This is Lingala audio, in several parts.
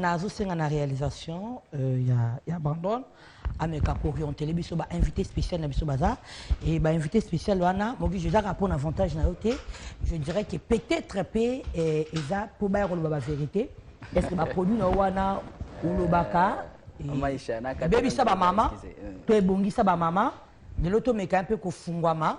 nazosenga na réalisation euh, ya, ya brandon ameka koorientele biso bainvité spécial na biso baza e bainvité spécial wana mogijo ezaka mpo na avantage na yo te je dirais que peut-être mpe eh, eza mpo baya koloba bavérité est ce que baproduit na yo wana olobaka ebebisa bamama to ebongisa bamama lelo tomeka mpe kofungwama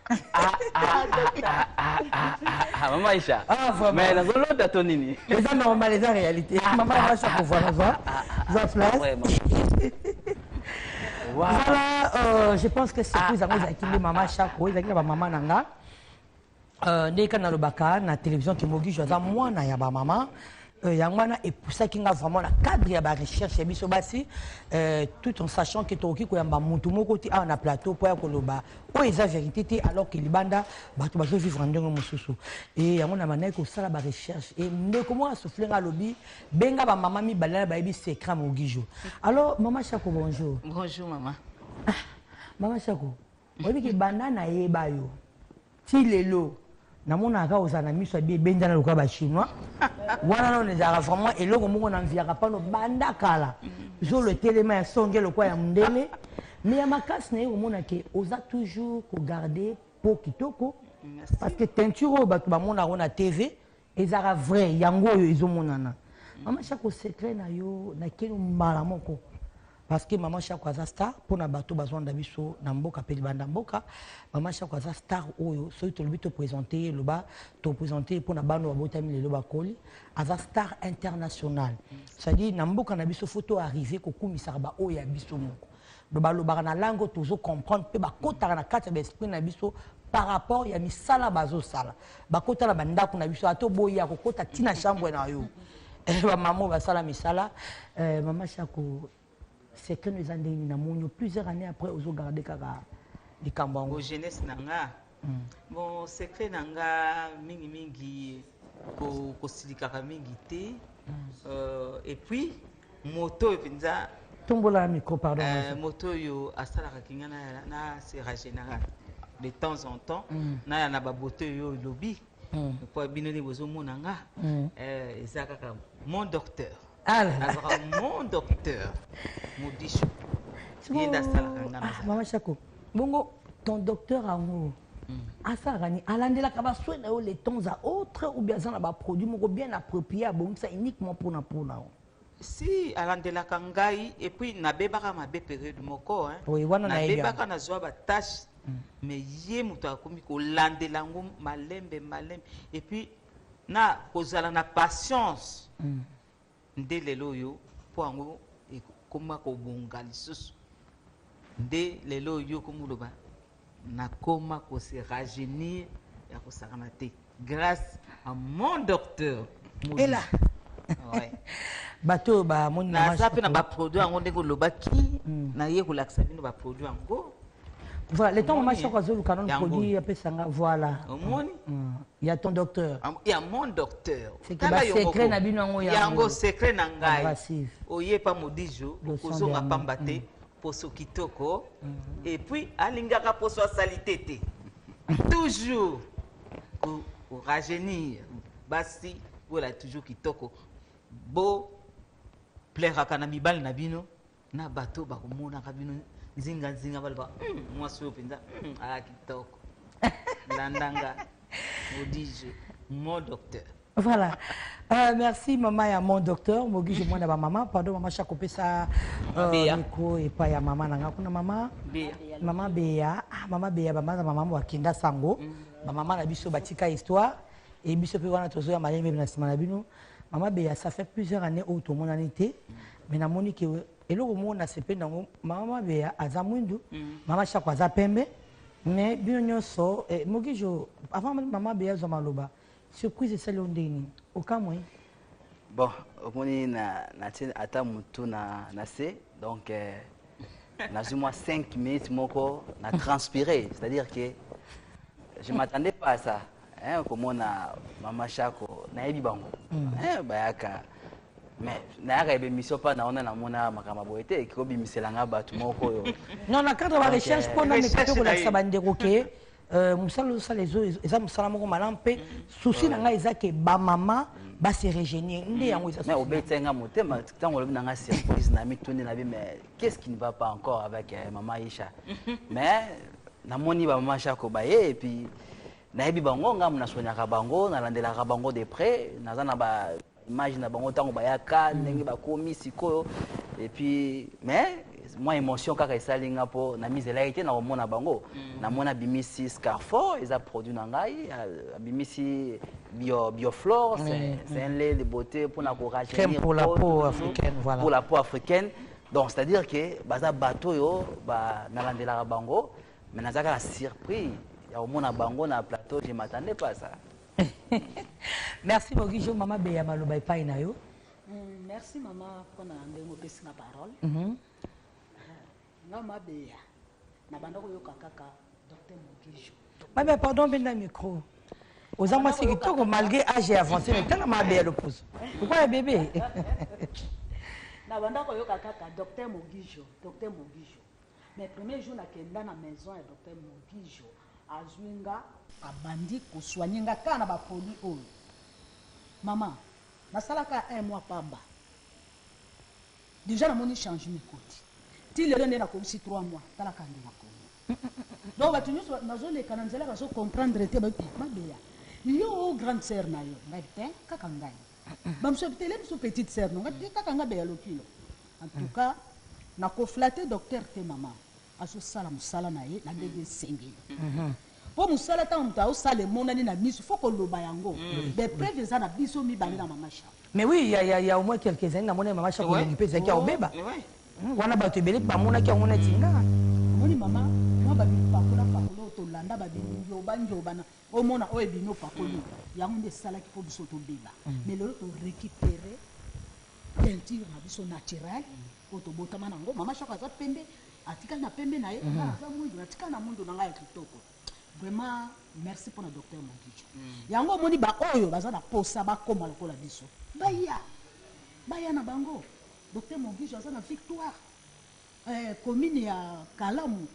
Ah, ah, ah, mama aisha mais nazolota to nini eza normal eza réalité mama aisha kovoana zwa zwa place zala euh, je pense que surtout ezango ezalaki nde mama shako ezalaki na bamama na nga euh, ndenge kani nalobaka na télévision ke mogijo aza mwana ya bamama Euh, yango wana epusaki nga vraiment na cadre ya barecherche ya biso basi euh, tout en sachant ke tokoki koyamba motu moko te awa na plateau mpo ya koloba oyo eza vérité te alors ke libanda bato bazovivre ndenge mosusu e yango na bandaki kosala barecherche e ndeko moko asufle nga alobi benga bamama mibale na bayebi secret mogijo alors mama chako bonjour bonjour mama ah, mama chako oyebi ke banda nayeba yo ti lelo namonaka kaka ozala na miso ya bie ebendana lokola bachinois wana nano ezalaka vraiment eloko moko na mviaka pano banda kala zolo etelema ya songe lokola ya mondele me ya makasi naye komona ke oza toujours kogarde po kitoko parce que teinture oyo bato bamonaka na tv Ezalaka vrai yango oyo ezo monana. Mama Shako secret na yo na keno mbala moko. Parce que Mama Shako aza star pona bato bazo landa biso na mboka pe libanda mboka. Mama Shako aza star oyo soki tolobi to presenter ye loba to presenter ye pona bana oyo babotami lelo bakoli. Aza star international. C'est à dire na mboka na biso faut to arriver ko kumisaka ba oyo ya biso moko. Donc balobaka na langue oyo tozo comprendre mpe bakotaka na kati ya ba esprit na biso par rapport ya misala bazosala bakota na bandako na biso ata oboyi akokota ti na chambre na yo eh, bamama oyo basala misala eh, mama shako secret no eza ndenge nini namoni plusieurs années après ozogarde kaka likambo yango jeunesse na nga Bon, secret na nga mingi mingi ko kosilikaka mingi te. Euh, et puis moto oyo mpenza tombola micro pardon euh, moto oyo asalaka kinga na na sera général de temps en temps mm. na ya na baboto oyo elobi mm. mpo bino nde bozomona nga mm. euh, eza kaka mon docteur Ah là là. Vraiment docteur Modicho. Yende asalaka nga na Mama Chako. Bongo ton docteur yango hmm. asalaka nini alandelaka baswe na yo le temps à autre ou bien aza na baproduit moko bien approprié abongisa uniquement mpona mpona yo si alandelaka ngai epuis nabebaka mabe periode moko nabebaka nazwa batache mais ye moto akomi kolandela yango malembe malembe epuis na kozala na patience mm. nde lelo oyo mpo yango ekoma kobonga lisusu nde lelo oyo okomoloba nakoma kose rajeunir ya kosakana te grâce à mon docteur ela ouais. bato oyo bamoni naza mpe na baproduit yango ndenge olobaki mm. naye kolakisa bino baproduit yango Voilà, le temps maman Choco azoluka non produit apesa nga voilà. Omoni? Mm. Il y a ton docteur. Ah, il y a mon docteur. C'est que ba secret na bino yango yango. Yango secret na ngai. Oye pa modijo okozonga pamba te mm. poso kitoko mm. et puis alingaka poso salite te. Toujours pour rajeunir basi voilà toujours kitoko. Bo plairaka na mibali na bino na bato oyo bakomonaka bino nzinganzinga baloba hmm, mwasi oyo mpenza hmm, aa kitoko landanga odije mon docteur voilà euh, merci mama ya mon docteur mogije mwana ba mama pardon mama shako pesa euh, micro epai ya mama na nga kuna mama mama beya ah, mama beya bamaza mama bakenda sango mm. bamama na biso batika histoire e biso mpe wana tozoya malembe na nsima na bino mama beya ça fait plusieurs années oyo tomonani te mais namoni ke eloko moko nasepeli nango mama mabeya aza mwindu mm. mama shako aza pembe mais bino nyonso eh, mokijo avant mama mabeya azwa maloba surprise esali yo ndenge nini okamwe bon omoni natie ata motu na se donc eh, nazwi mwa 5 minutes moko na transpire c'est-à-dire que je m'attendais pas à ça eh, okomona mama shako nayebi bango mm. eh, bayaka mais nayaka ebemission mpa na wana namona makambo boye te ekobimisela nga bato moko oyo non na cadre ba recherche mpo na meka mpe kolakisa bandeko ke euh, mosala ozosala eza mosala moko malamu mpe souci na ngai eza ke bamama base regenir nde yango eza obetisa nga motema ntango olobi na nga surprise na mituni na bi mais qu'est ce qui ne va pas encore avec euh, maman Isha mais namoni ba maman Shako baye et puis nayebi bango ngambo nasonyaka bango nalandelaka bango de près naza na ba image na bango ntango bayaka ndenge bakomi sikoyo et puis mais mwa émotion kaka esali nga mpo namizelaki te nakomona bango namona bimisi scarfo eza produit na ngai abimisi bio bioflore oui, c'est oui. un lait de beauté pour na ko rajeunir pour la peau africaine voilà pour la peau africaine donc c'est à dire que baza bato yo ba nalandelaka bango mais nazaka na surpris ya komona bango na plateau je m'attendais pas ça merci beaucoup jo mama beya maloba epai na yo mm, merci mama mpona ndenge opesi na parole mm -hmm. Nga mabeya na banda koyoka kaka Docteur Mugisho. Mabeya pardon benda micro. Oza mwasi kitoko malgré âge ya avancé mais tala mabeya loposo. Pourquoi ya bébé? na banda koyoka kaka Docteur Mugisho, Docteur Mugisho. Mais premier jour nakenda na maison ya Docteur Mugisho azwi nga abandi kosoigne nga kaka na baproduit oyo mama nasalaka un mois pamba Dejà namoni changement ekoti ti lelo nde nakolisi trois mois tala kandy na congo donc batu nionso bazoleka na nzela bazo comprendre te bayoki mabeya yo o grande sœur na yo ngayi te kaka ngayi ba mosusu bayoki te le mosusu petite sœur no ngayi te kaka ngayi beya lokilo en tout cas nako flatter docteur te maman Azosala mosala na ye na ndenge esengeli po mosala tango moto azosala emonani na miso faut koloba yango de preuve eza na biso mibale na mama Charlotte. Mais oui il ya ya ya au moins quelques annees namonaki mama Charlotte elongi pe ezalaki ya kobeba wana batu ebele pe bamonaki yango neti nga. Omoni mama mua ba bipakola pakola oyo tolanda ba bingioba ngioba na omona oyo ebimi opakoli oyo yango nde esalaki po biso tobeba mais lelo to recuperer teinture na biso naturelle oyo tobotama na ngo mama shaka aza pembe atikali na pembe na ye nga naza mwindu natikali na mwindu na nga ya kitoko vraiment merci pona docteur mogicho yango omoni ba oyo baza na posa bakoma lokola biso baya baya na bango docteur mogicho aza na victoire eh, commune ya kalamu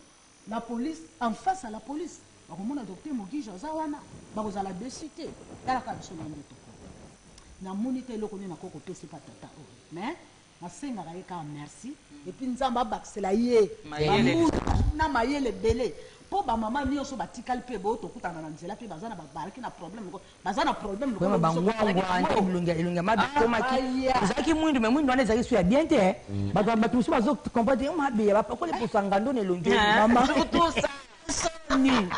la police en face à la police bakomona docteur mogicho aza wana bakozala dessus te talaka biso na ndoto namoni te eloko nini nakoki kopesa epa tata oyo mais Nasengaka ye kaka merci et puis Nzambe abakisela ye ba mbula na mayele ebele po ba maman nioso batikali pe bo tokutana na nzela pe baza na bazalaki na problème lokola baza na problème lokola biso tozalaki na ngo. Vraiment ba ngwangwa nde elongi ya mabe ekomaki ezalaki mwindu mais mwindu wana ezalaki su ya bien te hein batu mususu bazo comprendre te mabeya bapakoli poso ya ngando na elongi oyo maman. soni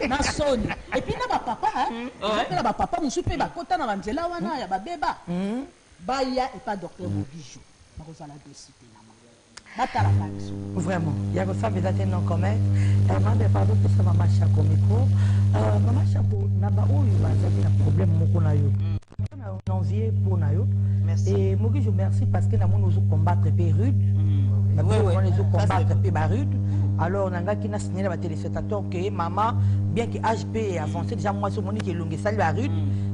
na soni epuis na bapapa mpe na bapapa mosusu mpe bakota na banzela wana ya babeba hmm. baya epa docteur hmm. mobijo bakozala desite na batalaka biso vraiment ya kosambela te non commet eh, mambe pardon pesa mama shako micro euh, mama shako na baoyo bazali na problème moko na yo hmm. envier mpo na yo et mokijo merci parce que namoni ozo combattre mpe rude namoni ezo combattre mpe ba rude alors nangaki na signale ya batelespectateur ke mama bien ke age mpe avance déjà mwasi omoni ke elongi esali ba rude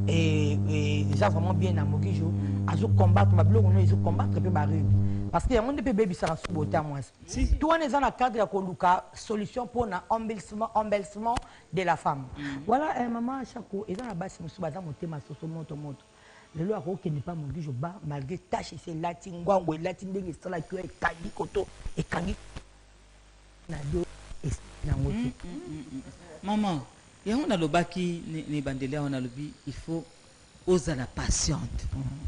eza vraiment bien na mokijo azo combattre babiloko no ezo combattre mpe ba rude parce que yango nde mpe ebebisaka subote ya mwasi to wana eza na cadre ya koluka solution mpo na embellissement de la femme voilà eh maman shako eza na basi mususu baza motema soso moto moto lelo ako kende pa modi je ba malgré tâche c'est lati ngwango elati ndenge esala tu ekangi koto ekangi na do es na ngoti mm, mm, mm, maman yango nalobaki ne bandeli awa nalobi il faut ozala patiente mm -hmm.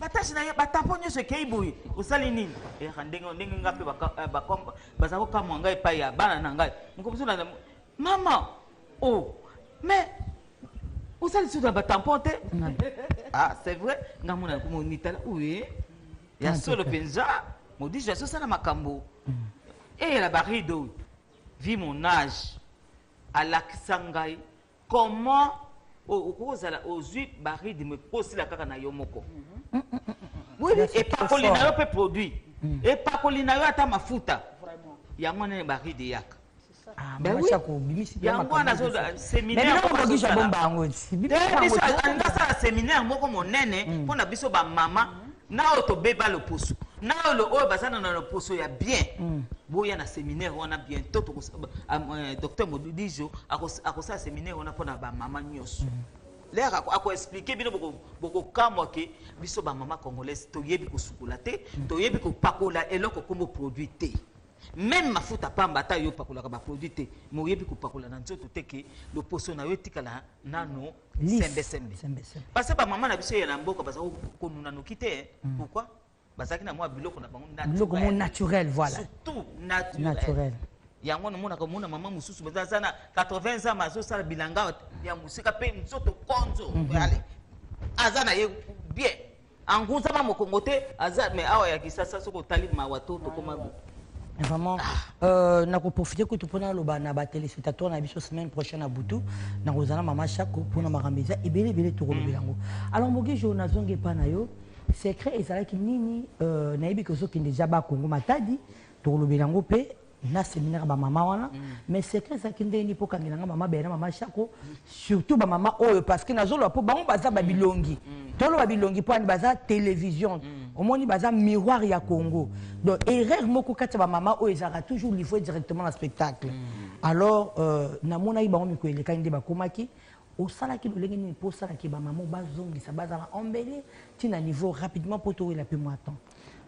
batage na ye batapo nyonso ekei boye osali nini eaka eh, ndenge ndenge ngai mpe eh, baza kokamwa ngai epai ya bana na ngai mokomosu na mama o oh, mais osali susu na batampon te ah c'est vrai ngai mona komonitala oye ya ah, solo mpenza modis ya sosala makambo mm. eyela barido vi mon age alakisa ngai comment okoki kozala ozwi baridme mpo osila kaka na yo moko epakoli na yo mpe produit mm. epakoli na yo ata mafuta yango wana baride eyaka Ah, ben oui. yango wana azoseminarealingi asala seminaire moko monene mpo mm. na biso bamama Na oyo to beba loposo. Na oyo lo oyo baza na na loposo ya bien. Boya na seminaire wana bientot toko euh, docteur Modijo akosala seminaire wana pona ba mama nyoso. Lere ako expliquer bino boko boko kamwa ke biso ba mama congolaise toyebi kosukola te, toyebi kopakola eloko kombo produit te. Meme mafuta pamba ata yo opakolaka ba produit te, mais oyebi kopakola na nzoto te ke loposo na yo etikala nano sembe sembe parce que ba maman na biso ya na mboka baza ko nuna noki te eh. mm. pourquoi bazaki na mwa biloko na bango naturel biloko mo naturel voilà surtout naturel, naturel. yango namonaka omona mama mosusu baza aza na 80 ans azosala bilanga ya mosika mpe nzoto konzo mhm. aza na ye bien Anguza ma mokongo te aza mais awa ya kisasa soko tali mawa to tokoma vraiment ah. euh, nakoprofite kutu mpo naloba na batelespectateur na biso semaine prochaine na butu nakozala na mama shako mpo na makambo eza ebele ebele tokolobela yango alors moki jour nazongi epai na yo secret ezalaki nini euh, nayebi ke ozokende ja bakongo matadi tokolobela yango mpe na seminaire ba mama wana mais secret ezalaki ndenge nini mpo okangela nga mama bela na mama shako surtout ba mama oyo parce que nazoloba mpo bango baza babilongi toloba bilongi mpo ani baza télévision omoni baza miroir ya congo donc erreur moko kati ya bamama oyo ezalaka toujours livre directement na spectacle alors euh, namonaki bango mikolo elekaki nde bakomaki osalaki lolenge nini mpo osalaki bamama bazongisa bazala embele ntina niveau rapidement mpo towela mpe mwa temps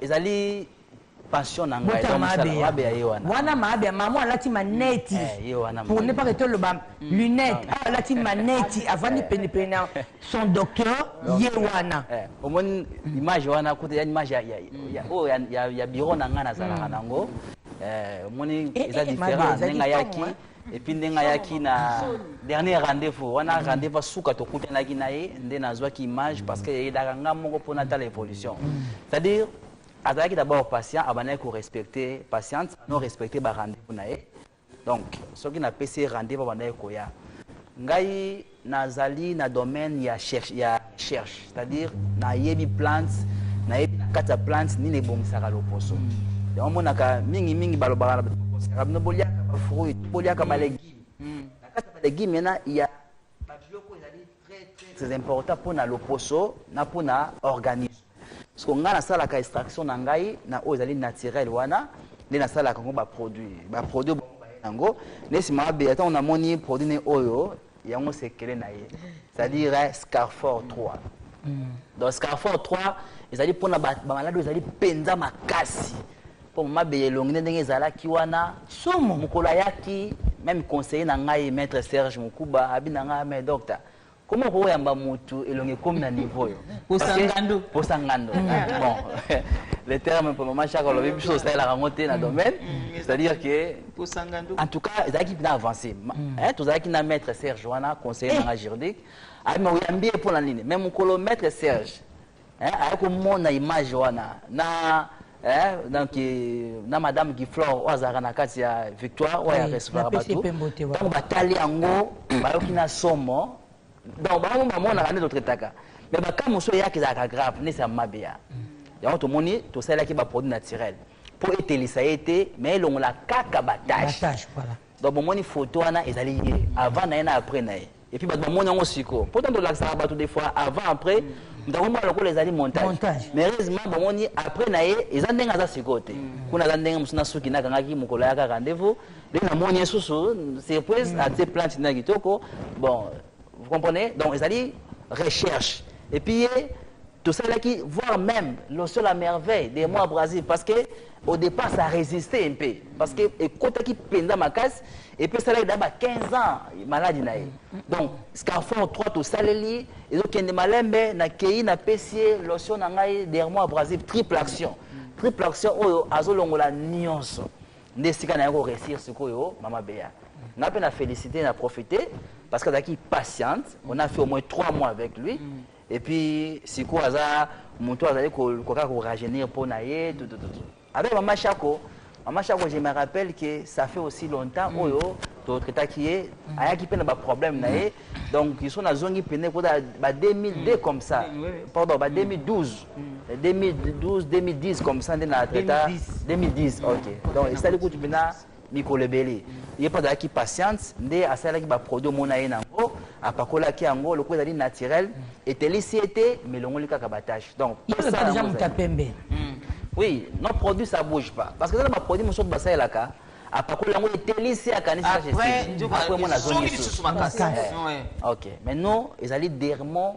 ezali passion na ngai donc mosala mabe ya ye wana wana mabe ya mama alati maneti eh, pour ne pas que toloba mm. lunette ah. ah, alati maneti avandi eh. penepene na son docteur ye wana eh, omoni image wana kuta ya image oyo ya bureau na ngai nazalaka mm. nango omoni eza différent ndenge ayaki epuis ndenge ayaki na dernier rendez-vous wana mm. rendez-vous asuka tokutanaki na ye nde nazwaki image parce que eyedaka nga moko mpo natala évolution mm. c'est-à-dire azalaki d'abord patient abandaki korespecte patiente no respecte barendez-vous na ye donc soki napesi ye rendez-vous abandaki koya ngai Nazali na domaine ya recherche, c'est-à-dire nayebi plante, nayebi na kati ya plante nini ebongisaka loposo. Yango monaka mingi mingi balobaka na bino boliaka ba fruits, boliaka ba legumes. Na kati ya ba legumes mena ya ba biloko ezali très très très important pona loposo na pona organisme. Siko ngai nasalaka extraction na ngai na oyo ezali naturel wana nde nasalaka yango baproduit baproduit yango nde nsima mabe ntango namoni produit ne oyo yango sekele na ye c'est-à-dire eh, scarfor 3 mm. donc scarfor 3 ezali mpona bamaladi oyo ezali mpenza makasi mpo mabe elongi nde ndenge ezalaki wana somo mokolo ayaki meme conseiller na ngai maître serge mokuba abi na ngai ah, mais docteur Comment okoki koyamba mutu elongi ekomi na niveau oyo posa ngando posa ngando mm. bon le terme mpo mama chaka olobi biso osalelaka yango te na mm. domaine mm. c'est-à-dire que en tout cas ezalaki mpena avancé eh, tozalaki na maître serge wana conseiller nanga eh. juridique ayima oyambi ye mpo na nini mais mokolo maître serge eh, aye komona image wana na eh, donc na madame giflore oyo azalaka na kati ya victoire oyo ya restauraka bato ntango batali yango bayoki na somo donc bango bamonaka nde totretaka mais baka mosusu eyaka ezalaka grave nde esama mabe ya yango tomoni tosalelaki baproduit naturel mpo etelisa ye te mais elongola kaka batache donc bomoni photo wana ezali ye avant na ye na après na ye epuis bato bamoni yango sikoyo mpo ntango tolakisaka bato des fois avant après moto akomona lokola ezali montage mais heureusement bomoni après na ye eza ndenge aza sikoyo te mm. kuna aza ndenge mosusu na suki nakangaki mokolo ayaka rendez-vous nde namoni ye susu surprise mm. atie plante na kitoko bon vous comprenez donc ezali recherche epuis ye tosalaki voir meme loso la merveille de moi brasil parce que au départ ça résistait un peu parce que ekotaki mpenza makasi epesalaki da ba 15 ans maladi na ye donc scarfon 3 tosaleli ezokende malembe nakei napesi ye lotion na ngai der moi brasil triple action triple action oyo azolongola nyonso nde esika na ye koresir sikoyo mama bea nga mpe na félicité na profite parce que azalaki patiente on a fait au moins 3 mois avec lui mm. et puis sikoyo aza moto azali kokoka ko rajeunir mpo na ye tutututu avec mama shako mama shako je me rappelle que ça fait aussi longtemps mm. oyo totraitaki ye mm. ayaki mpe na baproblème na ye mm. donc iso nazongi mpene kota ba 2002 comme ça pardon ba 2012 2012 2010 comme ça nde na traita 2010 ok donc esali kutu mpena mikolo ebele ye mpe azalaki patiente nde asalaki baproduit omona ye na yango apakolaki yango lokola ezali naturel etelisi ye te melongoli kaka batache donc hmm. oui nos produits ça bouge pas parce que eza na baproduit mosusu basalelaka apakola yango etelisi ye akanisiaprès mona azongi lisusu ok mais non ezali dermon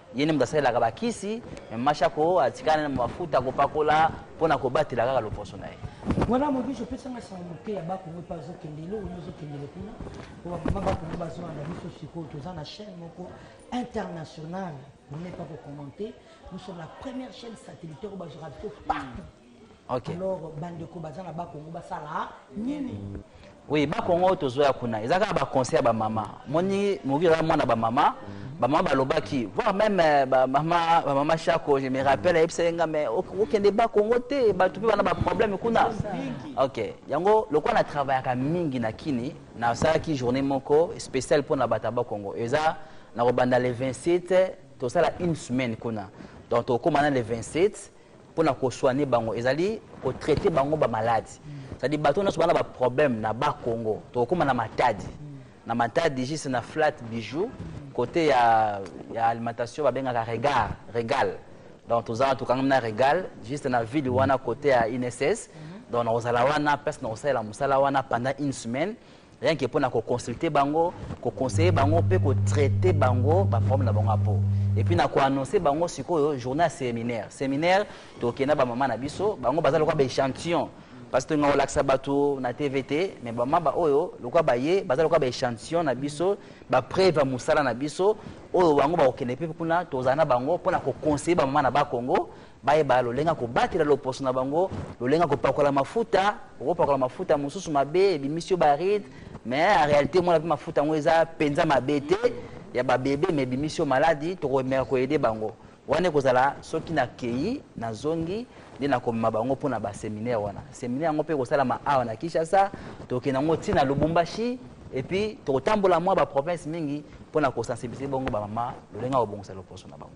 Ye nde moto asalelaka bakisi, mais Mashako atikala na mafuta akopakola mpo na kobatela kaka loposo na ye. Voilà mon biche opesa nga sango moke ya bako ngo pazo kende lo ngo zo kende kuna po ba mama bako ngo bazo na biso siko toza na chaîne moko internationale pour ne pas ko commenter nous sommes la première chaîne satellitaire bazo rater partout okay. alors bandeko baza na bakongo basala nini oui bakongo oyo tozoya kuna eza kaka baconseil ya bamama moni moki eza mwana bamama bamama balobaki voir même euh, bamama bamama shako je me rappelle ayebisaki nga mais okende bakongo te bato mpe bana baproblème kuna ok yango lokola na travaillaka mingi na kini nasalaki journée moko spéciale mpo na bato ya bakongo eza nakobanda le 27 tosala une semaine kuna donc tokokóma na le 27 pona ko soigner bango ezali ko traiter bango ba malades c'est à dire bato nyonso bana ba problème na ba Congo tokokoma na matadi na matadi juste na flat bijoux côté ya ya alimentation babengaka regard regal donc toza wana tokangami na regal juste na ville wana côté ya INSS donc nakozala wana place nakosalela mosala wana pendant une semaine rien que pona ko consulter bango ko conseiller bango pe ko traiter bango ba problème na bango ya po et puis na ko annoncer bango sikoyo journée ya séminaire séminaire tokenda ba mama na biso bango baza lokola ba échantillon parce que ngao lakisa bato na tv te mais bama ba oyo lokola baye baza lokola ba échantillon na biso ba preuve ya mosala na biso oyo bango bakokende mpe kuna tozala na bango mpo na koconseille bamama na ba congo Bayeba lolenge ya kobatela loposo na bango, lolenge ya kopakola mafuta. Okopakola mafuta mosusu mabe, ebimisi yo baride, mais en realite omona mpe mafuta yango eza mpenza mabe te ya babebe, mais ebimisi yo maladi. Tokomeka koyede bango wana ekozala soki nakei nazongi nde nakomema bango mpo na baseminaire wana. Seminaire yango mpe ekosalama awa na Kinshasa, tokokende yango ntina Lubumbashi epuis tokotambola mwa baprovince mingi mpo na kosensibilize bongo bamama lolenge ya kobongisa loposo na bango.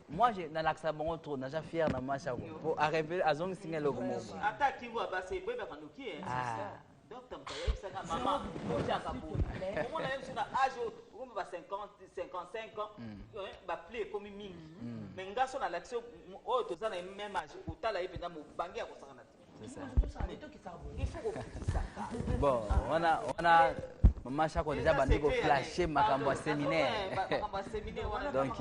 Moi, je nalakisa bango trop, naja fier na mwasi yango. Po a revele azongisi nga eloko moko. Ata akingo abasa ebebaka noki eh. Ah. Docteur moto ayebisaka mama otyaka boye. Omona ye mosusu na age oyo okomi ba 50, 55 ans, ba pli ekomi mingi. Mais nga so nalakisi oyo toza na ye même age, otala ye mpenza mobange ya kosakana te. bon wana wana mama shako deja bandi koflashe makambo ya seminaire donc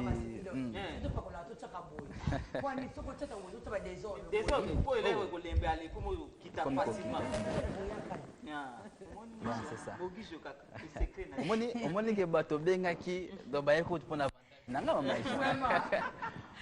omoni ke bato obengaki donc baye kutu mpona nanga mama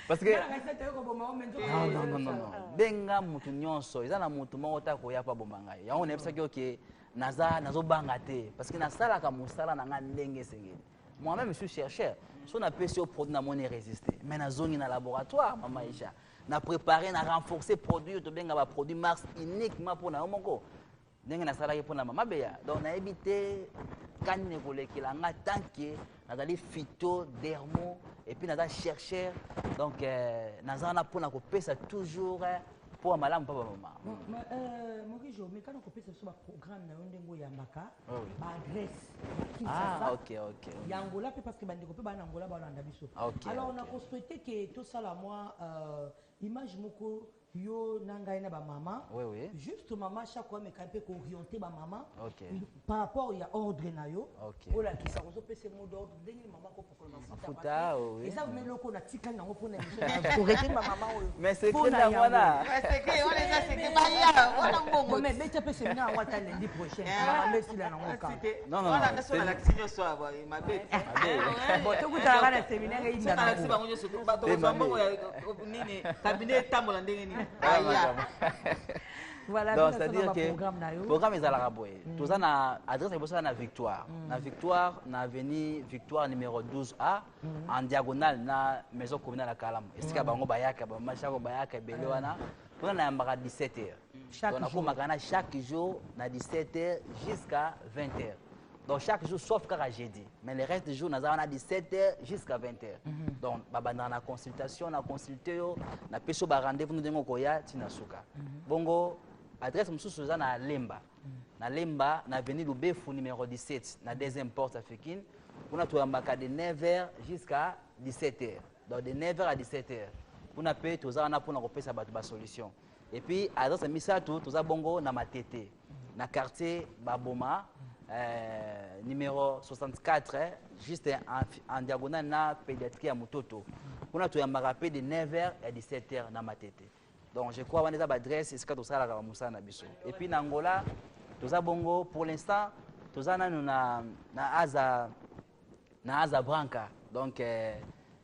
parce que non non non non benga mutu nyonso eza na mutu moko ta koya pa bomba ngai yango nayebisaki oke naza nazobanga te parce que nasalaka mosala na ngai ndenge esengeli moi-même suis chercheur so napesi yo produit namoni résister mais nazongi na laboratoire mama isha na préparer na renforcer produit oyo tobenga baproduit mars uniquement mpo na yo moko ndenge nasalaki mpo na mama beya donc nayebi te kani nekolekela nga tant que nazali fito dermo epuis naza chercheur donc euh, naza wana mpo na kopesa toujours euh, mpo ya malamu mpo bamama euh, morijo mekana kopesa biso baprogramme na yo ndenge oyambaka oh, baadresse ah, ya angola mpe parce que bandeko mpe bana angola balanda biso ah, alors nakosouhaite ke tosala mwa image moko Yo na ngai na ba maman oui, oui. juste maman chaque ameka mpe kooriente ba maman okay. par rapport ya ordre na yo okay. olakisa kozopesa mot d'ordre ndenge ni maman kopokola mafuta oui. eza vna eloko na tikali nango mpona korete ba maman oyo beta mpe semina yango ata lendi prochain amesila nango kabotokutalaka na semina ngai nini cabinet etambola ndenge nini aya Voilà, donc c'est-à-dire que programme ezalaka boye mm. toza na adresse ya liboso na victoire mm. na victoire na avenue victoire numéro 12 a mm. en diagonale na maison communale ya kalamu esika bango bayaka bamashako bayaka ebele wana kuna nayambaka 17 heures donc nakomaka na chaque jour na 17 heures jusqu'à 20 heures donc chaque jour sauf kaka jeudi mais le reste jour naza wana 17 heures jusqu'à 20 heures mm -hmm. donc babandaka na consultation na consulte yo napesi yo barendez-vous no ndenge okoya ti na suka mm -hmm. bongo adresse mosusu eza na lemba mm -hmm. na lemba na avenue lubefu numéro 17 na deuxième porte africaine kuna toyambaka de 9 heures jusqu'à 17 heures donc de 9 heures à 17 heures kuna mpe toza wana mpona kopesa bato basolution Et puis à Zasa Misato, tous à Bongo, na Matete, na quartier Baboma, euh, numéro 64, hein, juste en, en diagonale na pédiatrie à Mutoto. On a tout un marapé de 9h à 17h na Matete. Donc je crois qu'on est à l'adresse, c'est ce que tout ça la Moussa na biso. Et puis na Angola, tous à Bongo, pour l'instant, tous à na na Aza, na Aza Branca. Donc euh,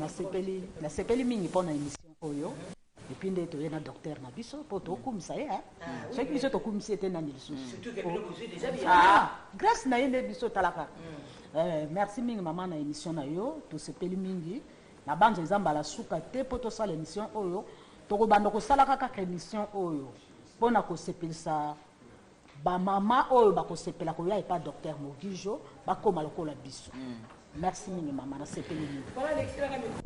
Nasepeli nasepeli mingi pona emission oyo epuis nde toye na docteur na biso mpo tokumisa ye soki biso tokumisi ye te nani lisusu grace na ye nde biso talaka merci mingi mama na emission na yo tosepeli mingi nabanza eza mbala suka te mpo tosala emission oyo tokobanda kosalaka kaka emission oyo mpo na kosepelisa Ba mama oyo bakosepela koya epa docteur Mogijo bakoma lokola biso. Merci mingi mama nasepeli mingi. Pona lekisela nga micro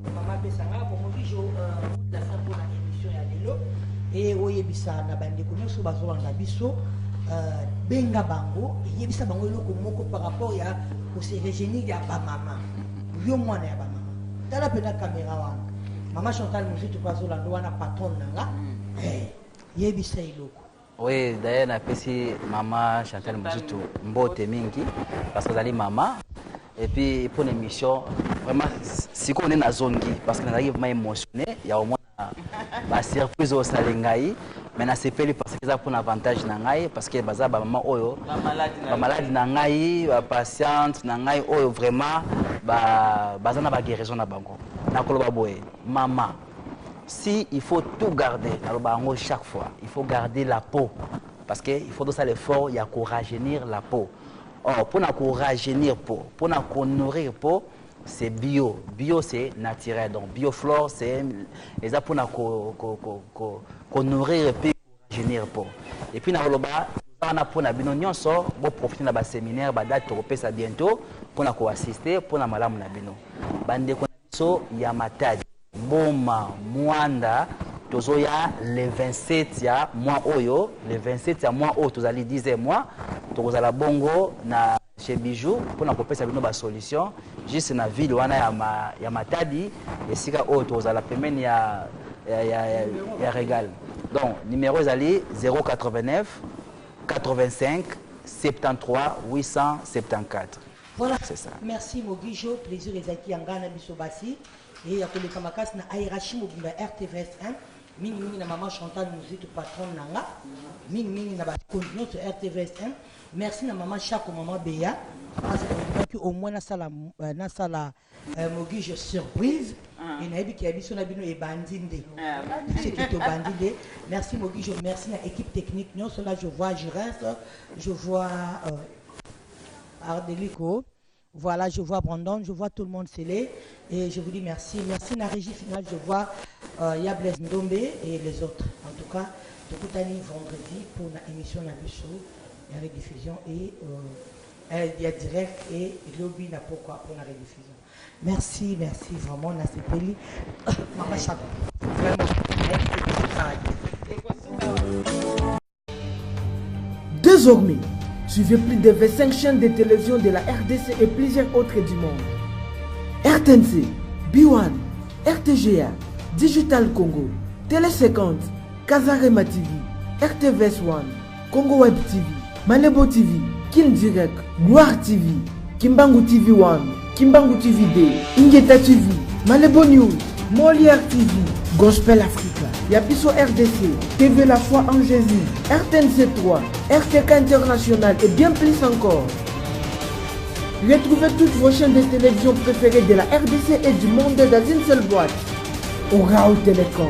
ya mama pesa nga po Mogijo mot de la fin pona emission ya lelo et oyebisa na ba ndeko nionso bazolanda biso benga bango yebisa bango eloko moko par rapport ya ko se rejeunir ya ba mama. Yo mwana ya ba mama tala pena camera wana mama Chantal Muzitu pe azolanda wana patronne na nga yebisa eloko. Oui, d'ailleurs napesi mama Chantal Muzutu mbote mingi parce que azali mama et puis pour une émission vraiment sikoyo nde nazongi parce que nazalaki vraiment émotionné ya komona basurprise oyo osali ngai mais nasepeli parce que eza mpona avantage na ngai parce que baza bamama oyo bamaladi na ngai bapatiente na ngai oyo vraiment baza na baguérison na bango nakoloba boye mama si il faut tout garder nalobaka yango chaque fois il faut garder la peau parce que il faut tosala effort ya korajeunir la peau or mpo na korajeunir peau mpo na konourrir peau c'est bio bio c'est naturel donc bioflore c'est eza mpo na konourrir ko, ko, ko, ko mpe korajeunir peau et puis nakoloba wana mpo na bino nyonso boprofite na baseminaire badate tokopesa bientôt mpo na koassiste mpo na malamu na bino bandeko Biso ya Matadi, Boma, Muanda tozoya le 27 ya mois oyo, le 27 ya mois oyo tozali 10e mois, tokozala bongo na chez Bijou pona kopesa bino ba solution juste na ville wana ya, ma, ya Matadi esika oyo tokozala pembeni ya, ya, ya, ya, ya Regal. Donc numero ezali 089 85 73 874. Voilà, merci Moguijo, plaisir ezalaki ya ngai na biso basi et ya koleka makasi na Airachi mobimba ya RTVS 1 mingi mingi na maman Chantal Muzitu patronne na nga mingi mingi na bakonzi nyonso RTVS 1 merci na maman Shako maman Beya parce que au moins nasala nasala Eh mogijo surprise et nayebi ke ya biso na bino ebandi nde biso eke tobandi nde merci mogijo merci na équipe technique nyonso là je vois Giresse je vois euh, Ardelico voilà je vois Brandon je vois tout le monde scellé et je vous dis merci merci na régie finale je vois euh, ya Blaise Ndombe et les autres en tout cas tokutani vendredi pour na émission na biso ya rediffusion et euh, Eh ya direct et lobi na pokua pona rediffusion merci merci vraiment na sepeli mama shaba vraiment Désormais, suivez plus de 25 chaînes de télévision de la RDC et plusieurs autres du monde. RTNC, B1, RTGA, Digital Congo, Télé 50, Kazarema TV, RTVS One, Congo Web TV, Malebo TV, Kin Direct, Gloire TV, Kimbangu TV 1, Kimbangu TV 2, Ingeta TV, Malebo News, Molière TV, Gospel Africa, Yapiso RDC, TV La Foi en Jésus, RTNC 3, RTK International et bien plus encore. Retrouvez toutes vos chaînes de télévision préférées de la RDC et du monde dans une seule boîte. Orao Télécom.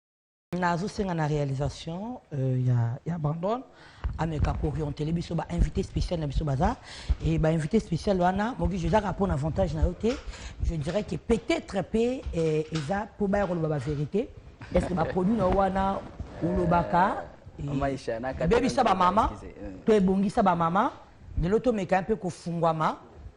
nazosenga na réalisation euh, ya, ya brandon ameka koorientele biso bainvité spécial na biso baza e bainvité spécial wana mokiso ezaka mpo na avantage na yo te je dirais que peut-être mpe eh, eza mpo baya koloba bavérité est ce que baproduit na yo wana olobaka ebebisa bamama to ebongisa bamama lelo tomeka mpe kofungwama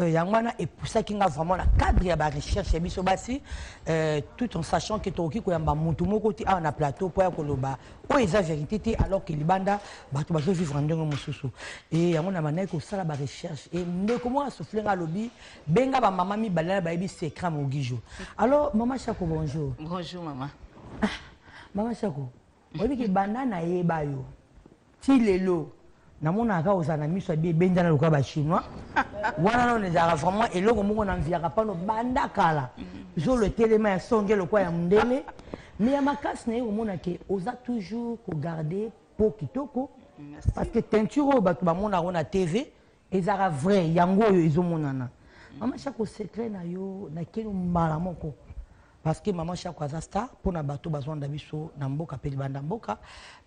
Euh, yango wana epusaki nga vraiment na cadre ya barecherche ya biso basi euh, tout en sachant ke tokoki koyamba motu moko te awa na plateau mpo ya koloba oyo eza vérité te alors ke libanda bato bazovivre ndenge mosusu e yango na bandaki kosala barecherche e ndeko moko asufle nga alobi benga bamama mibale na bayebi secret mogijo alors mama chako bonjour bonjour mama ah, mama chako Oyebi ke banda na yeba yo ti lelo namonaka kaka ozala na miso ya bi ebendana lokola ba chinois wana nano ezalaka vraiment eloko moko na mviaka pano banda kala zolo etelema ya songe lokola ya mondele me ya makasi na ye komona ke oza toujours kogarde po kitoko parce que teinture oyo bato bamonaka na tv Ezalaka vrai yango oyo ezo monana. Mama Shako secret na yo na keno mbala moko. Parce que Mama Shako aza star pona bato bazo landa biso na mboka pe libanda mboka.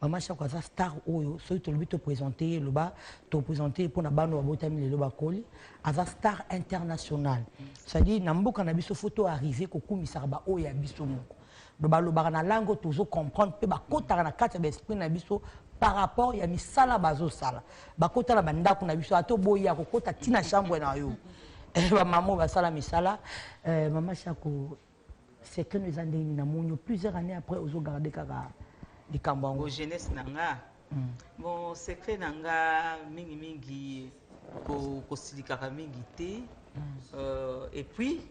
Mama Shako aza star oyo soki tolobi to presenter ye loba to presenter ye pona bana oyo babotami lelo bakoli. Aza star international. C'est à dire na mboka na biso faut to arriver ko kumisaka ba oyo ya biso moko. Donc balobaka na langue oyo tozo comprendre mpe bakotaka na kati ya ba esprit na biso par rapport ya misala bazosala bakota na bandako na biso ata oboyi akokota ti na chambre na yo eh, bamama oyo basala misala eh, mama shako secret no eza ndenge nini namoni plusieurs années après ozogarde kaka likambo yango jeunesse na nga Bon, secret na nga mingi mingi ko kosilikaka mingi te. Euh, et puis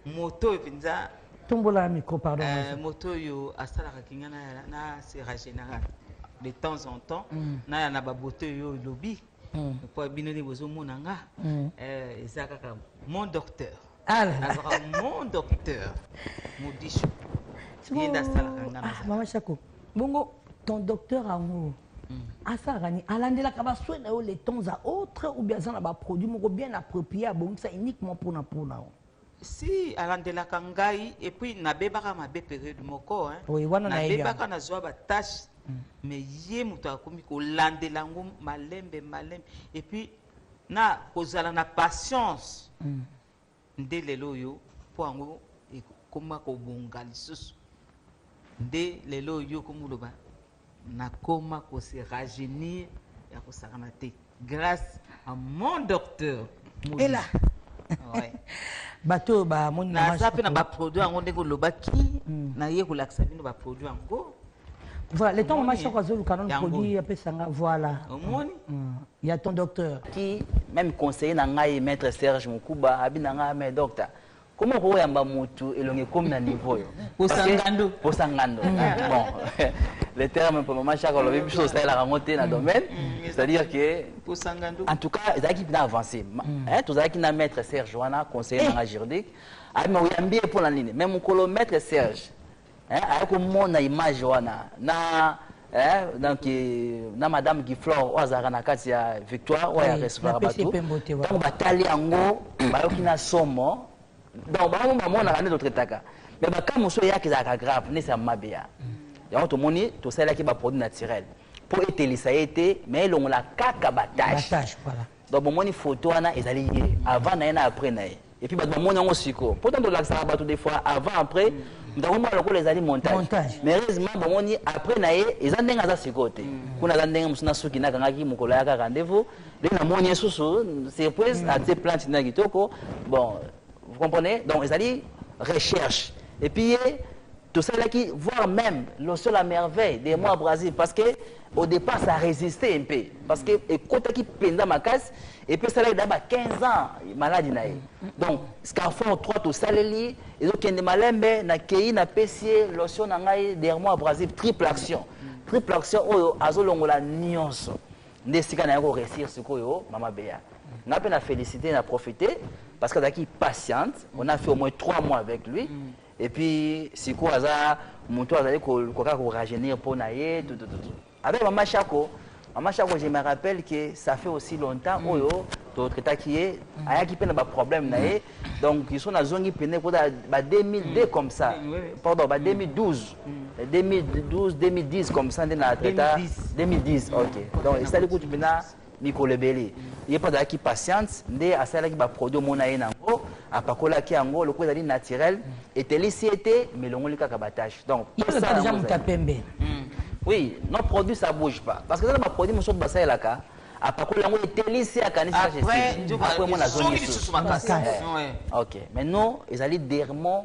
moto oyo mpenza tombola micro pardon euh, moto oyo asalaka kinga na sera général de temps en temps mm. naya na baboto oyo olobi mpo mm. bino nde bozomona nga mm. euh, eza kaka mon docteur Ah là là. azalaka mon docteur modisu ye nde asalaka nga Ah, maman Chako, bongo ton docteur yango asalaka nini alandelaka baswe na yo le temps à autre ou bien aza na baproduit moko bien approprié abongisa uniquement mpona mpona yo si alandelaka ngai epuis nabebaka mabe periode moko hein. Oui, wana nayebi nabebaka nazwa batache mais ye moto akomi kolandela yango malembe malembe epuis na kozala na patience mm. nde lelo oyo mpo yango ekoma kobonga lisusu nde lelo oyo okomoloba nakoma kose rajeunir ya kosakana te grâce à mon docteur ela ouais. bato oyo bamoni naza mpe na baproduit yango ndenge olobaki mm. naye kolakisa bino baproduit yango Voilà, le temps maman Choco azoluka non produit apesa nga voilà. Omoni? Mm. Il y a ton docteur. Qui même conseiller na ngai maître Serge Mukuba abi na ngai mais docteur comment ko yamba mutu elonge comme na niveau yo. Posangando. Posangando. Mm. Ah, bon. Le terme pour maman Choco lobi biso ça la rangote na mm. domaine, mm. c'est-à-dire que Posangando. En tout cas, ezaki bina avancer. Hein, tous ezaki na maître Serge wana conseiller na eh. juridique. Abi ma oyambi pour la nini? Même mukolo maître Serge eh, aye komona image wana na eh, donc eh, na madame giflore oyo azalaka na kati ya victoire oyo ya recevaka bato ntango batali yango bayoki na somo donc bango bamonaka nde totretaka mais baka mosusu eyaka ezalaka grave nesi ya mabeya yango tomoni tosalelaki baproduit naturel mpo etelisa ye te mais elongola kaka batache Donc bomoni photo wana ezali ye avant na ye na après na ye et puis bato bamoni yango siko mpo ntango tolakisaka bato des fois avant après moto akomona lokola ezali montage Montage. mais heureusement bomoni après na ye eza ndenge aza sikoyo te kuna aza ndenge mosusu na suki nakangaki mokolo ayaka rendez-vous nde namoni ye susu surprise atie plante na kitoko bon vous comprenez donc ezali recherche et puis ye tosalelaki voire même lotion la merveille de moi brasil parce que Au depart ça resistait un peu parce que ekotaki penza makasi et puis ça là ba 15 ans malade na ye. Donc Scarfort 3 to saleli ezo kende malembe na keyi na pesie lotion na ngai dermo abrasive triple action. Triple action oyo azolongola nyonso. Nde sika na yako réussir sikoyo mama Bea. Nga pe na féliciter na profiter parce que azalaki patiente, on a fait au moins 3 mois avec lui. Mm. et puis sikoyo aza moto azali koluka kaka korajeunir mpo na ye tutututu avec mama shako mama shako je me rappelle que ça fait aussi longtemps mm. oyo oh, totraitaki ye mm. ayaki mpe na baproblème na ye mm. donc iso nazongi mpene kota ba 2002 comme ça pardon ba 2012 2012 2010 comme ça nde na traita 2010 ok donc esali kutu mpena mikolo ebele ye mpe azalaki patiente nde asalaki baproduit omona ye nango apakolaki yango lokola ezali naturel etelisi ye te ma elongoli kaka batache donc pembe hmm. oui nos produits ça bouge pas parce que eza na baproduit mosusu basalelaka apakoli yango etelisi ye akanisiaprès mona azongi lisusu makasi eh. ok mais non ezali dermon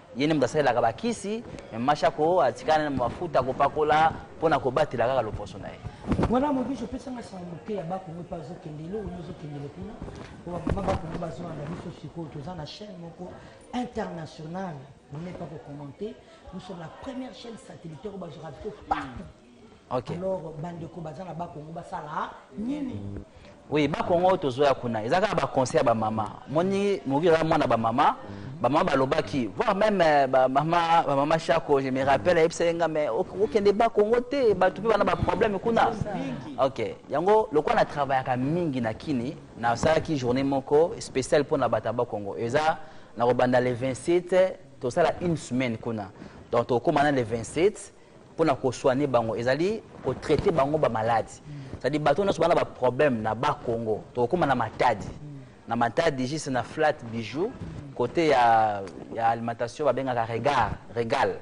Ye nde moto asalelaka bakisi, mais Mashako atika nanu mafuta ya kopakola mpo na kobatela kaka loposo na ye. Wana Mobutu opesa nga sango moke ya ba Kongo mpe azokende eloko nini ezokendele kuna mpo ba mama ba Kongo bazolanda biso sikoyo toza na chaîne moko internationale vous n'êtes pas ko commenter nous sommes la première chaîne satellitaire oyo bazwaka biso partout okay. alors bandeko baza na bakongo basala nini oui bakongo oyo tozoya kuna eza kaka baconseil ya bamama moni moki eza mwana bamama bamama balobaki voir même euh, bamama bamama shako je me rappelle ayebisaki nga mais okende bakongo te bato mpe bana baproblème kuna ok yango lokola na travaillaka mingi na kini nasalaki journée moko spéciale mpo na bato ya bakongo eza nakobanda le 27 tosala une semaine kuna donc tokokóma na le 27 pona ko soigner bango ezali ko traiter bango ba malades c'est à dire bato nyonso bana ba problème na ba Congo tokokoma na matadi na matadi juste na flat bijou côté ya ya alimentation babengaka regard regal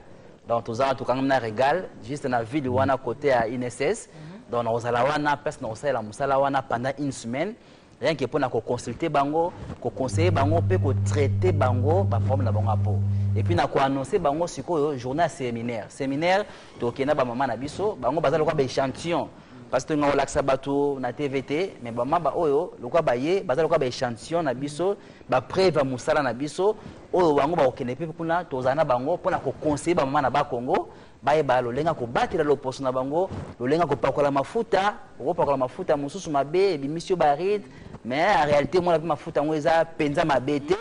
donc toza wana tokangami na regal juste na ville wana côté ya INSS donc nakozala wana place nakosalela mosala wana pendant une semaine rien que pona ko consulter bango ko conseiller bango pe ko traiter bango ba problème na bango ya po et puis na ko annoncer bango sikoyo journée ya séminaire séminaire tokokende na ba mama na biso bango baza lokola ba échantillon parce que tolingaka kolakisa bato na tv te mais bama baoyo lokola baye baza lokola ba échantillon na biso ba preuve ya mosala na biso oyo bango bakokende mpe kuna tozala na bango mpo na koconseille bamama na bakongo Bayeba lolenge ya kobatela loposo na bango, lolenge ya kopakola mafuta. Okopakola mafuta mosusu mabe ebimisi yo baride, mais en realite omona mpe mafuta yango eza mpenza mabe te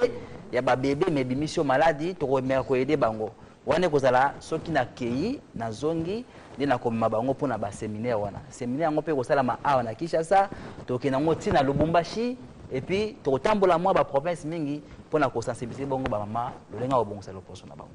ya babebe, mais ebimisi yo maladi. Tokomeka koyede bango wana ekozala soki nakei nazongi nde nakomema bango mpo na baseminaire wana. Seminaire yango mpe ekosalama awa na Kinshasa, tokende yango ntina na Lubumbashi epuis tokotambola mwa baprovince mingi mpo na kosensibilize bongo bamama lolenge ya kobongisa loposo na bango.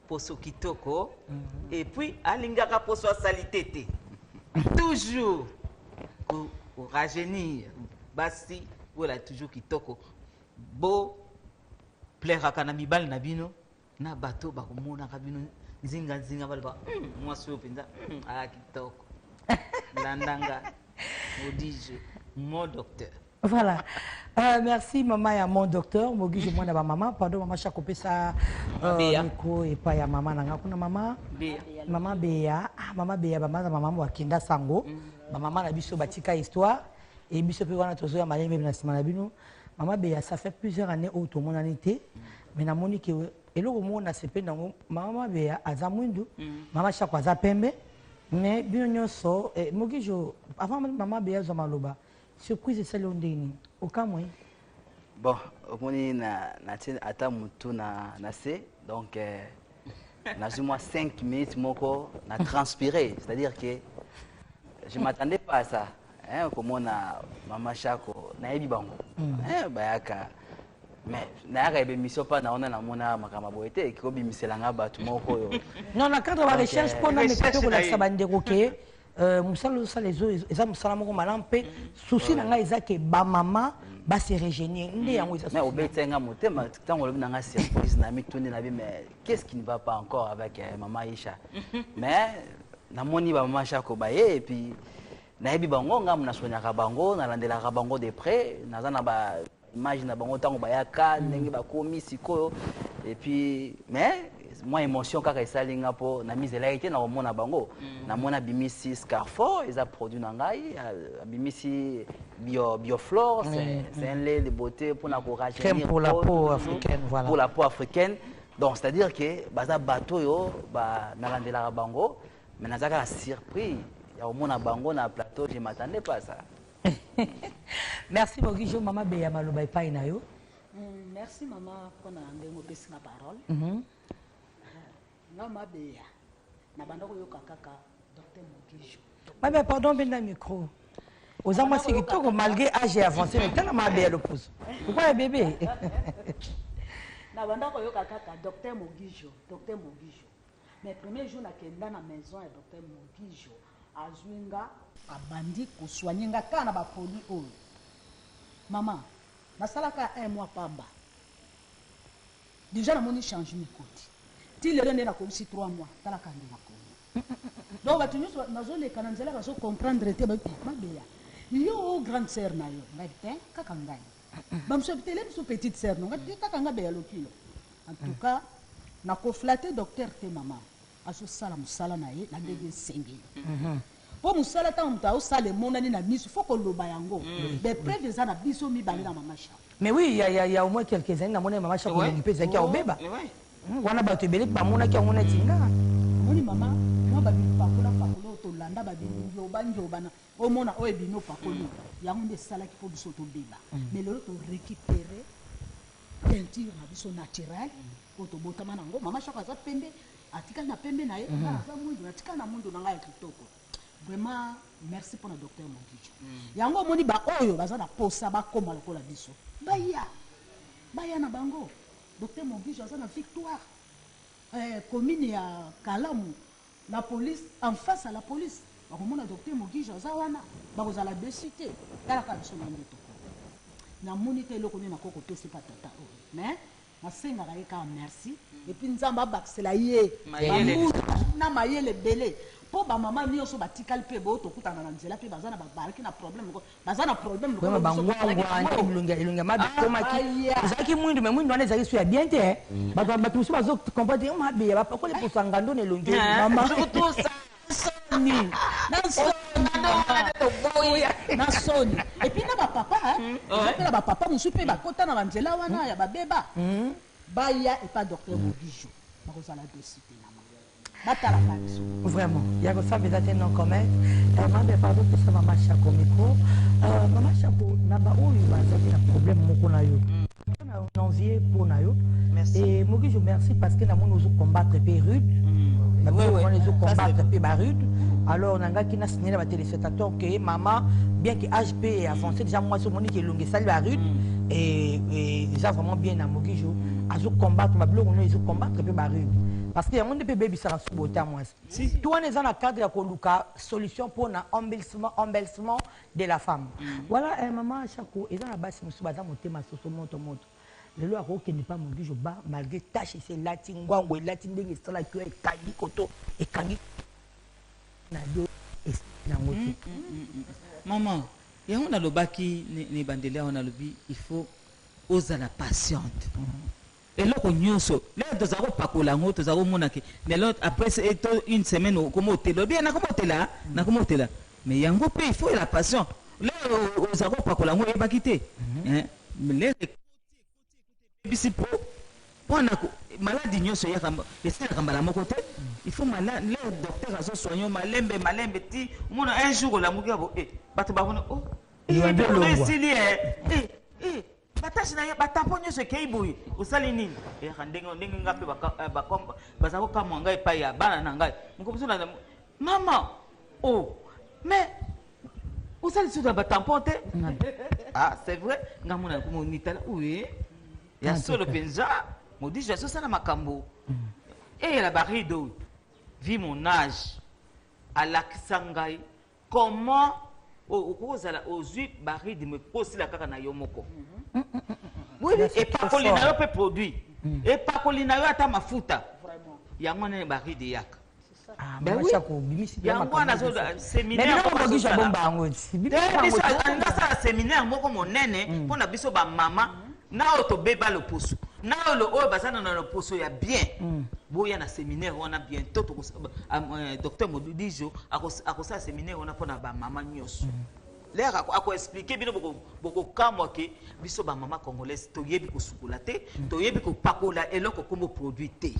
poso kitoko et puis alingaka poso ya salite te toujours ko- ko rajeunir basi ola toujours kitoko bo plairaka na mibali na bino na bato oyo bakomonaka bino nzinga nzinga baloba "Hmm, mwasi oyo mpenza hmm, aa kitoko landanga odije mon docteur Voilà. Euh, merci maman ya mon docteur mogijo mm. mwana ba mama pardon mama shako pesa euh, miko epai ya mama na nga kuna mama mama beya ah, mama beya bamaza mama wakenda sango mm. bamama na biso batika histoire e biso mpe wana tozoya malembe na nsima na bino mama beya ça fait plusieurs années oyo tomonani te mm. mais namoni ke eloko moko nasepeli nango mama beya aza mwindu mama shako aza pembe mais bino nyonso eh, mogijo avant mama beya azwa maloba Surprise esali yo ndenge nini? Okamwe? Bon, omoni na na tie ata mutu na na se donc euh, nazwi mwa 5 minutes moko na transpire c'est-à-dire que je m'attendais pas à ça hein, komona mama shako nayebi bango mm. hein, bayaka mais nayaka ebe mission mpa naona namona makambo boye te ekobimisela nga bato moko oyo non na cadre ba recherche mpo na meka mpe kolakisa bandeko ke Euh, mosala ozosala eza mosala moko malamu mpe souci na ngai eza ke bamama base regénie nde yango ezaobeta nga motema ntango olobi na ngai surprise na mituni na bi mais qu'est ce qui ne va pas encore avec euh, mama isha mais namoni bamama shako baye et puis nayebi bango ngambo nasonyaka bango nalandelaka bango de près naza na ba image na bango ntango bayaka mm. ndenge bakomi sikoyo epuis mais mwa émotion kaka esali nga mpo namizelaki te na komona bango mm. namoni abimisi scarfo eza produit na ngai abimisi bio, bioflore mm. c'est mm. un lait de beauté mpo na korajeunir pour la peau africaine voilà pour la peau africaine donc c'est à dire que baza bato oyo nalandelaka bango mais nazalaka na surpris ya komona bango na plateau je m'attendais pas ça Merci Bogi Jo mama Beya maloba epai na yo. Mm, merci mama pona ndenge opesi nga parole. Mm -hmm. Nga mabeya na banda koyoka kaka Dr Bogi Jo. Mabeya pardon benda micro. oza mwasi kitoko malgré age ya avance me tala mabe ya loposo lokwa ya bebe na banda koyoka kaka docteur mogijo docteur mogijo mais premier jour nakenda na maison ya docteur mogijo azui nga. Abandi ko soigner nga kaka na ba produits oyo maman nasala kaka un mois pamba dejà namoni changement ekoti ti lelo nde nakomisi trois mois tala kaka nde nakomi donc batu nionso bazo leka na nzela bazo comprendre te ba mabeya yo o grande sœur na yo ngai te kaka ngai ba mususu babi te le mususu petite sœur no ngai te kaka ngai beya lokilo en tout cas nako flatter docteur te maman azosala mosala na ye na ndenge esengeli po mosala ntango moto aosala emonani na miso fo koloba yango ba preuve eza na biso mibale na mama Charlotte Mais oui, il y a, y a, y a au moins quelques années, namonaki mama Shako elongi mpe ezalaki ya kobeba. Wana bato ebele mpe bamonaki yango neti nga. Omoni mama, mwa ba bipakola pakola oyo tolanda ba binjoba njoba na omona oyo ebimi opakoli yango nde esalaki mpo biso tobeba. Mais lelo to recuperer teinture na biso naturelle. oyo tobotama na yango mama shako aza pembe atikali na pembe na ye nga naza mwindu natikali na mwindu na ngai ya kitoko vraiment merci mpo na docteur mogijo yango omoni baoyo baza na posa bakoma lokola biso baya baya na bango docteur mogijo aza na victoire eh, commune ya kalamu la police en face à la police bakomona docteur mogijo aza wana bakozala desu te talaka biso na nde toko namoni te eloko nini nakoki kopesa epa tata oyo mais Nasengaka ye kaka merci et puis nzambe abakisela ye ba mbula na mayele ebele po ba maman nioso batikali pe bo tokutana na nzela pe baza na bazalaki na problème lokola baza na problème lokola biso tozalaki na ngo vraiment ba ngwangwa elongi elongi ya mabe ekomaki ah aya ezalaki mwindu mais mwindu wana ezalaki su ya bien te hein bato bato mosusu bazo comprendre te mabe ya bapakoli poso ya ngando na elongi oyo maman soni na soni epuis na bapapa ezopela bapapa mosusu mpe bakota na banzela wana ya babeba baya epa docteur mobijo bakozala desite na batalaka biso vraiment ya kosambela te non comment eh, mambe pardon pesa mama shako micro euh, mama shako na baoyo bazali na problème moko na yo mm. envier mpo na yo et mokijo merci parce que namoni ozo combattre mpe rude mm. namoni ezo combattre mpe barude alors nangaki na signale ya batelespectateur ke mama bien ke age mpe e avance déjà mwasi omoni ke elongi esali barude mm. eza vraiment bien na mokijo mm. azo combattre babiloko no ezo combattre mpe barude parce que yango nde mpe ebebisaka subota mwasi to wana eza na cadre ya koluka solution mpo na embellissement de la femme voilà eh, maman Shako eza na basi mosusu baza motema soso moto moto lelo akokende mpa moduge ba malgré tache esi elati ngwango elati ndenge esalaki yo ekangi koto ekangi na yo yango te mm, mm, mm, mama yango nalobaki na ebandeli awa nalobi il faut ozala patiente Eloko nyoso lelo tozali kopakola yango tozali komona ke lelo apres to une semaine okomi otela olobi eh nakomi otela nakomi otela mais yango pe il faut la passion lelo ozali kopakola yango oyebaki te eh mais lelo ekomi ebisi po pona ko maladi nyoso eyaka esilaka mbala moko te il faut mala lelo docteur azo soigner yo malembe malembe ti omona un jour olamuki yabo eh bato bamona oh eh biloko na yo esili eh eh eh batage na ye batapo nyonso ekei boye osali nini eyaka eh, ndenge ndenge ngai mpe eh, baza kokamwa ngai epai ya bana na ngai mokomosu na mama o oh, mais osali susu na batampon te ah c'est vrai ngai mona monitala oye ya ah, solo mpenza modis ya sosala makambo eyela mm. eh, barido vi mon age alakisa ngai Comment okoki kozala ozwi ba rythme kosila kaka na yo moko epakoli na yo mpe produit mm. epakoli na yo ata mafuta yango wana ne baride yaka ah, ben yango wana seminairealingi asala seminaire moko monene mpo mm. na biso bamama na oyo tobeba loposo na oyo lo oyo baza na loposo ya bien mm. boya na seminaire wana bientôt ah, euh, docteur modudijo akosala seminaire wana mpo na bamama nyonso mm. lere akoexplike bino bokokamwa ke biso bamama congolaise toyebi kosukola te mm. toyebi kopakola eloko nkombo produit te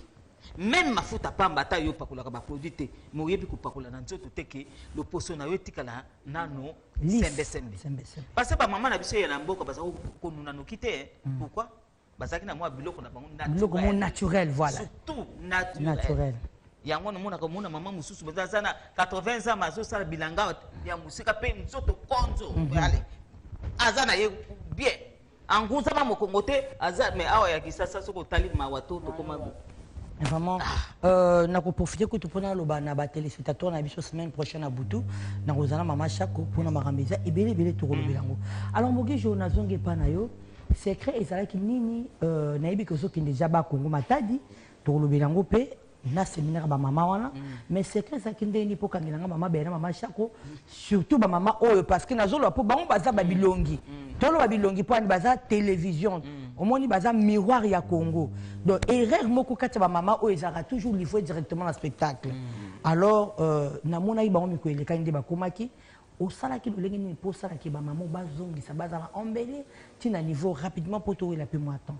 meme mafuta pamba ata yo opakolaka baproduit te moyebi kopakola na nzoto te ke loposo na yo etikala nano sembe sembe parce que ba maman na biso ya na mboka baza ko nuna noki te mm. pourquoi bazaki na mwa biloko na bango naturel biloko mo naturel voilà surtout naturel, naturel. yango namonaka omona mama mosusu baza aza na 80 ans azosala bilanga ya mosika mpe nzoto konzo mhm. aza na ye bien Anguza mamo kongo te aza mais awa ya kisasa soki otali mawa to tokoma bo. Vraiment, euh, na koprofite kutu mpo naloba na batelespectateur na biso semaine prochaine na butu nakozala mama shako mpo na makambo eza ebele ebele tokolobela yango alors moki jour nazongi epa na yo secret ezalaki nini euh, nayebi ke ozokende jaba congo matadi tokolobela yango mpe na seminaire ba mama wana mais secret ezalaki ndenge nini mpo okangela nga mama bena mama shako surtout ba mama oyo parce que nazoloba mpo bango baza ba bilongi toloba bilongi mpo ani baza télévision omoni baza miroir ya congo donc erreur moko kati ya ba mama oyo ezalaka toujours livre directement na spectacle alors euh, namonaki bango mikolo elekaki nde bakomaki osalaki lolenge nini mpo osalaki bamama bazongisa bazala embele ntina niveau rapidement mpo towela mpe mwa temps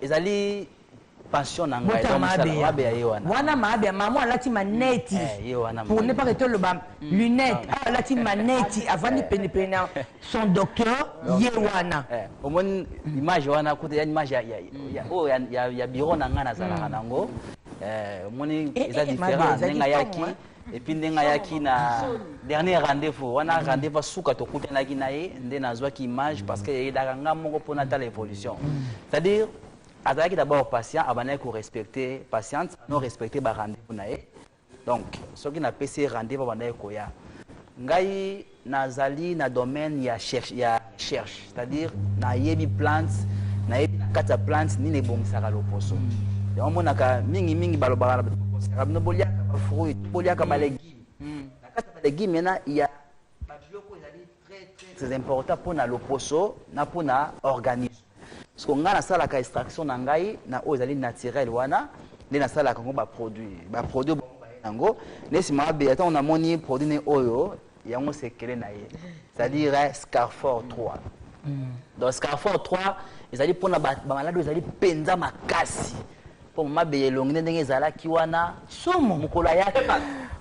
ezali pension na ngai Bota mosala mabe ya- mabe ya ye wana wana mabe ya mama alati maneti Eh, ye wana pour ne pas que toloba lunette awa alati maneti avandi penepene na son docteur ye wana Eh, omoni image wana kutu ya image ya- ya- ya- oyo ya- ya- ya bureau na ngai nazalaka nango Eh, omoni Eh, eza eh, mabe, différent ezali ndenge ayaki somo, eh. epuis ndenge ayaki na dernier rendez-vous wana mm. rendez-vous asuka tokutanaki na ye nde nazwaki image parce que eyedaka nga moko mpo natala évolution mm. c'est-à-dire azalaki d'abord patient abandaki korespecte patiente no respecte barendez-vous na ye donc soki napesi ye rendez-vous abandaki koya ngai Nazali na domaine ya recherche, c'est-à-dire nayebi plante, nayebi na kati ya plante nini ebongisaka loposo. Yango monaka mingi mingi balobaka na bino boliaka ba fruits, boliaka ba legumes. Na kati ya ba legumes mena il y a ba biloko ezali très très très important pona loposo na pona organisme. Siko ngai nasalaka extraction na ngai na oyo ezali naturel wana nde nasalaka yango baproduit baproduit baye yango nde nsima babela ntango namoni produit ne oyo yango sekele na ye c'est-à-dire eh, scarfor 3 mm. donc scarfor 3 ezali mpona bamaladi oyo ezali mpenza makasi mpo mama beye elongi nde ndenge ezalaki wana somo mokolo ayaki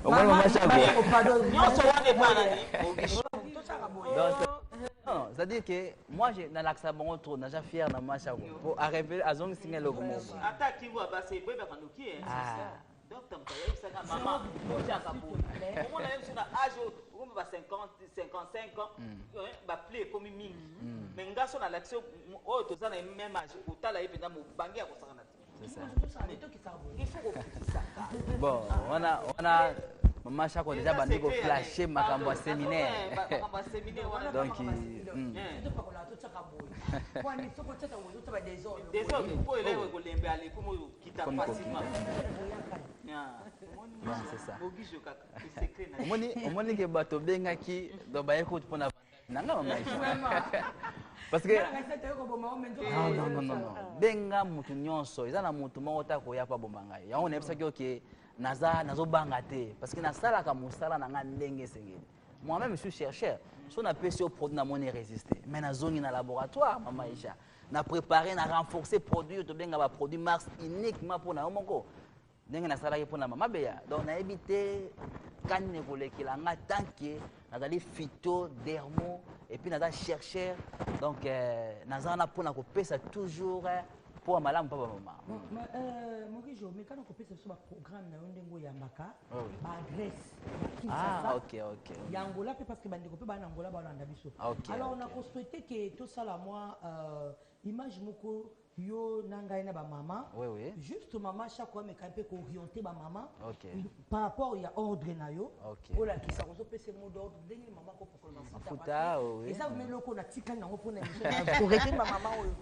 omoni mama chago nyonso wana epanani donc c'est-à-dire que Moi, je nalakisa bango trop, naja fier na mwasi yango. Po a revele azongisi nga eloko moko. Ata akingo abasa ebebaka noki eh. Ah. Docteur moto ayebisaka mama ojaka boye. Omona ye biso na âge oyo okomi ba 50, 55 ans, ba pli ekomi mingi. Mais nga so nalakisi oyo toza na ye même âge, otala ye mpenza mobange ya kosakana te. bon wana wana mama shako deja bandi koflashe makambo ya seminaire donc omoni ke bato obengaki donc baye kutu mpona nanga mama parce que non non non non benga mutu nyonso eza na mutu moko ta koya pa bomba ngai yango nayebisaki oke naza nazobanga te parce que nasalaka mosala na ngai ndenge esengeli moi-même suis chercheur so napesi yo produit namoni résister mais nazongi na laboratoire mama isha na préparer na renforcer produit oyo tobenga baproduit mars uniquement mpo na yo moko ndenge nasalaki mpo na mama beya donc nayebi te kani na ekolekela nga tant que nazali fito dermo epuis naza chercheur donc euh, naza wana mpo na kopesa toujours euh, mpo ya malamu mpo bamama euh, morijo mekana kopesa biso baprogramme na yo ndenge oyambaka oh, baadresse ah, ya angola mpe parce que bandeko mpe baa na angola balanda biso ah, alors nakosouhaite ke tosala mwa Image moko yo na ngai na ba mama oui, oui. juste mama chaque ameka mpe kooriente ba mama okay. par rapport ya ordre na yo okay. olakisa kozopesa mot d'ordre ndenge mama kopokola mafuta oui. eza vme eloko natikali yango mpona korete ba mama oyo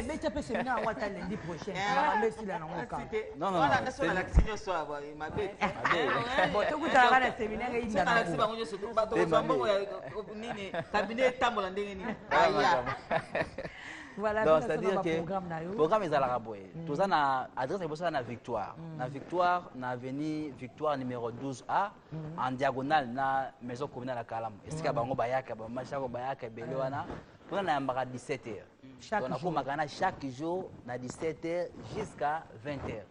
beta mpe semina yango ata lendi prochain amesila nango kabotokutalaka na seminaire nini kabine etambola ndenge nini aya voilà, donc c'est-à-dire que programme ezalaka boye mm. toza na adresse liboso ya na victoire mm. na victoire na avenue victoire numéro 12 a mm. en diagonale na maison communale ya kalamu esika bango bayaka bamashako bayaka ebele wana kuna nayambaka 17 heures donc nakomaka na chaque jour na 17 heures jusqu'à 20 heures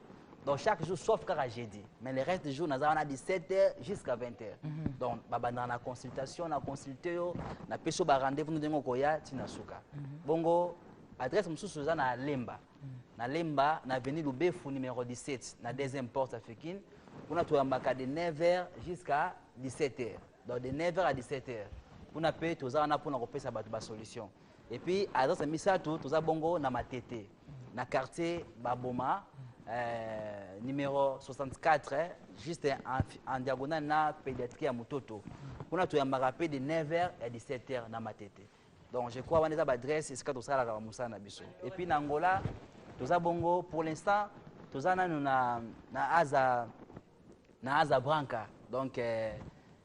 donc chaque jour sauf kaka jeudi mais le reste du jour naza wana 17 heures jusqu'à 20 heures mm -hmm. donc babandaka na consultation na consulte yo napesi yo barendez-vous no ndenge okoya ti na suka mm -hmm. bongo adresse mosusu eza na lemba mm -hmm. na lemba na avenue lubefu numéro 17 na deuxième porte africaine kuna toyambaka de 9 heures jusqu'à 17 heures donc de 9 heures à 17 heures kuna mpe toza wana mpona kopesa bato basolution Et puis à Zasa Misato, tous à Bongo, na Matete, na quartier Baboma, euh, numéro 64, hein, juste en, en diagonale na pédiatrie à Mutoto. On a tout un marapé de 9h à 17h na Matete. Donc je crois qu'on est à l'adresse, c'est ce que tout ça la Moussa na biso. Et puis na Angola, tous à Bongo, pour l'instant, tous à na na Aza, na Aza Branca. Donc euh,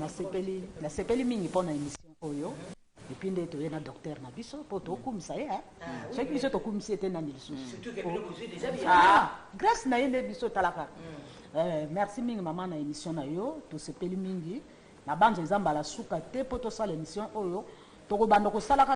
Nasepeli nasepeli mingi pona emission oyo epuis nde toye na docteur na biso po tokumisa ye soki biso tokumisi ye te nani lisusu grace na ye nde biso talaka merci mingi mama na emission na yo tosepeli mingi nabanza eza mbala suka te po tosala emission oyo tokobanda kosalaka